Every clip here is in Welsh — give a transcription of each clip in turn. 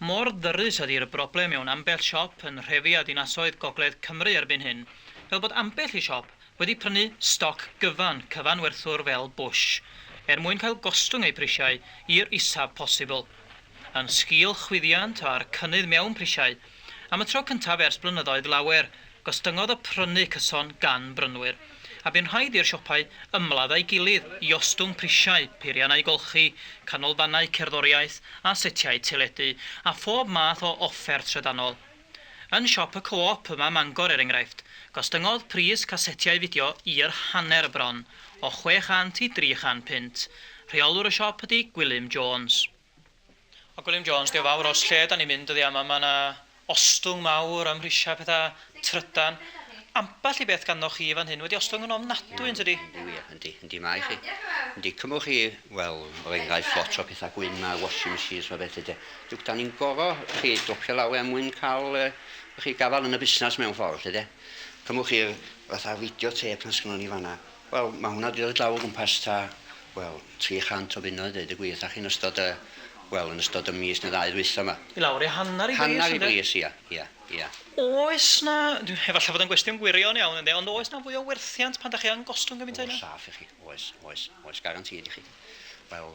Mor ddyrys ydi'r broblem mewn ambell siop yn nhrefi a dinasoedd gogledd Cymru erbyn hyn, fel bod ambell i siop wedi prynu stoc gyfan cyfanwerthwr fel Bush, er mwyn cael gostwng eu prisiau i'r isaf posibl. Yn sgil chwyddiant a'r cynnydd mewn prisiau, Am y tro cyntaf ers blynyddoedd lawer, gostyngodd y prynu cyson gan brynwyr, a bu'n rhaid i'r siopau ymladd â'i gilydd i ostwng prisiau peiriannau golchi, canolfannau cerddoriaeth a setiau teledu, a phob math o offer trydanol. Yn siop y Co-op yma Mangor, er enghraifft, gostyngodd pris casetiau fideo i'r hanner bron, o 600 i 300 punt. Rheolwr y siop ydy Gwilym Jones. O Gwilym Jones, dio fawr os lle da ni'n mynd dyddia yma, mae yna ostwng mawr ym mhrisiau pethau trydan. Ambell i beth ganddoch chi fan hyn wedi ostwng yn ofnadwy yn tydi? Yndi wir, yndi, yndi mae chi. Yndi, cymwch chi, wel, er enghraifft, lot o pethau gwyn ma, washing machines a felly de. Duwc, da ni'n gorfod chi dopio law er mwyn cael yy chi gafael yn y busnes mewn ffordd lly de. Cymwch chi'r fatha video tape na sgynnon ni fan'na, Wel, mae hwnna 'di dod draw o gwmpas ta, wel, 300 o bunnoedd, deud y gwir 'tha chi, yn ystod y, wel, yn ystod y mis neu ddau ddwytha 'ma. I lawr i hanner i bris, ynde? Hanner i bris, ia, ia, ia. Oes 'na, efallai fod o'n gwestiwn gwirion iawn, ynde, ond oes 'na fwy o werthiant pan 'dach chi yn gostwng gymaint â hynna? Oes, saff i chi. Oes, oes, oes, garantîd i chi. Wel,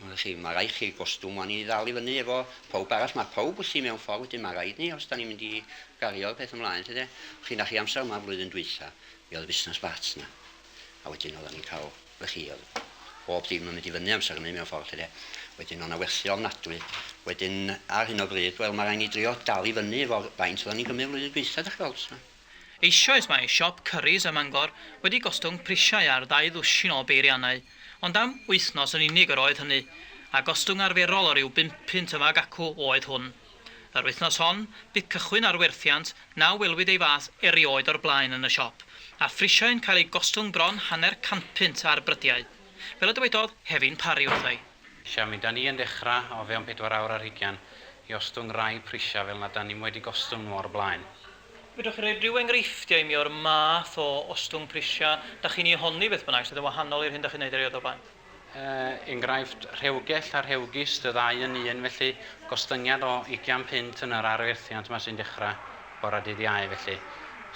wyddoch chi, mae rhaid chi gostwng 'wan i ddal i fyny efo pawb arall. Mae pawb wrthi mewn ffordd, wedyn mae rhaid ni os 'dan ni'n mynd i gario'r peth ymlaen, 'lly 'de. Chi'n dach chi amser yma flwyddyn dwytha, Mi oedd y busnes bach 'na. A wedyn oeddan ni'n cael, w'ch chi, oedd bob dim yn mynd i fyny amser hynny mewn ffordd 'lly de. Wedyn o' 'na werthu ofnadwy. Wedyn ar hyn o bryd, wel ma' raid ni drio dal i fyny efo'r faint oeddan ni'n cymryd flwyddyn dwytha, 'dach chi weld, so. Eisoes mae siop Curry's ym Mangor wedi gostwng prisiau ar ddau ddwsin o beiriannau, ond am wythnos yn unig yr oedd hynny, a gostwng arferol o ryw bump punt yma ac acw oedd hwn. Yr wythnos hon, bu cychwyn ar werthiant na welwyd ei fath erioed o'r blaen yn y siop, a phrisiau yn cael eu gostwng bron hanner cantpunt ar brydiau. Fel y dywedodd Hefin Parry wrtha i. Lle mi 'da ni yn dechra, o fewn pedwar awr ar hugain, i ostwng rai prisiau fel nad 'da ni'm wedi gostwng nhw o'r blaen. Fedrwch chi roi rhyw enghreifftiau i mi o'r math o ostwng prisiau 'da chi'n ei honni beth bynnag sydd yn wahanol i'r hyn 'da chi'n neud erioed o'r blaen? enghraifft rhewgell a rhewgist, y ddau yn un, felly gostyngiad o ugian punt yn yr arwerthiant yma sy'n dechrau bore dydd Iau felly,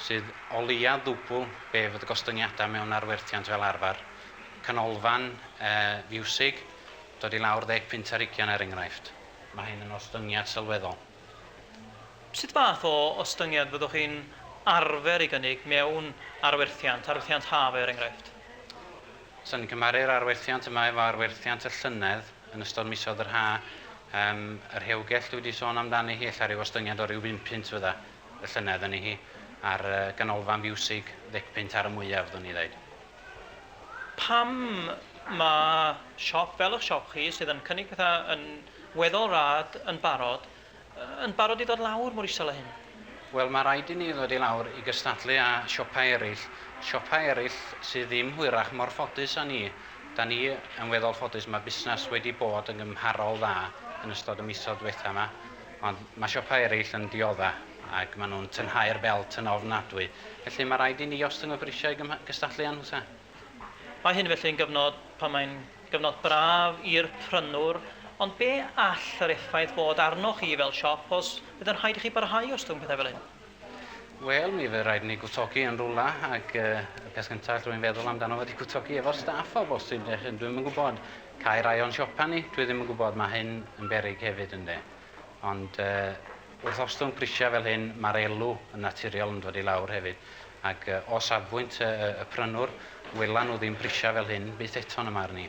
sydd o leiaf ddwbl be fydd y gostyngiadau mewn arwerthiant fel arfer. Canolfan fiwsig, dod i lawr ddeg punt ar ugian er enghraifft. Mae hyn yn ostyngiad sylweddol. Sut fath o ostyngiad fyddwch chi'n arfer ei gynnig mewn arwerthiant, arwerthiant haf er enghraifft? Os yn cymharu'r arwerthiant yma efo arwerthiant y llynedd yn ystod misoedd yr ha, yym, y rhewgell dwi 'di sôn amdani hi, ella ryw ostyngiad o ryw bum punt fydda y llynedd yni hi, a'r yy ganolfan fiwsig, ddec punt ar y mwyaf, fyddwn i ddeud. Pam ma' siop fel 'ych siop chi, sydd yn cynnig petha yn Weddol rad, yn barod. Yn barod i ddod lawr mor isel â hyn? Wel, mae rhaid i ni ddod i lawr i gystadlu â siopau eraill, siopau eraill sydd ddim hwyrach mor ffodus â ni. Dan ni yn weddol ffodus, mae busnes wedi bod yn gymharol dda yn ystod y misoedd diwetha' yma, ond mae siopau eraill yn diodda' ac maen nhw'n tynhau'r belt yn ofnadwy. Felly, mae rhaid i ni ostwng y prisiau i gystadlu â nhw 'ta? Mae hyn felly yn gyfnod pan mae'n Gyfnod braf i'r prynwr, ond be all yr effaith fod arnoch chi fel siop os fydd yn rhaid i chi barhau i ostwng pethau fel hyn? Wel, mi fydd rhaid i ni gwtogi yn rhywle, ac y peth cyntaf allwn i feddwl amdano fo ydy gwtogi efo'r staff o bosib, dych, dwi ddim yn gwybod. Cau rai o'n siopa ni, dwi ddim yn gwybod, mae hyn yn beryg hefyd ynde. Ond Wrth ostwng prisiau fel hyn, mae'r elw yn naturiol yn dod i lawr hefyd, ac o safbwynt y y prynwr, welan nhw ddim prisiau fel hyn byth eto yn y marn i.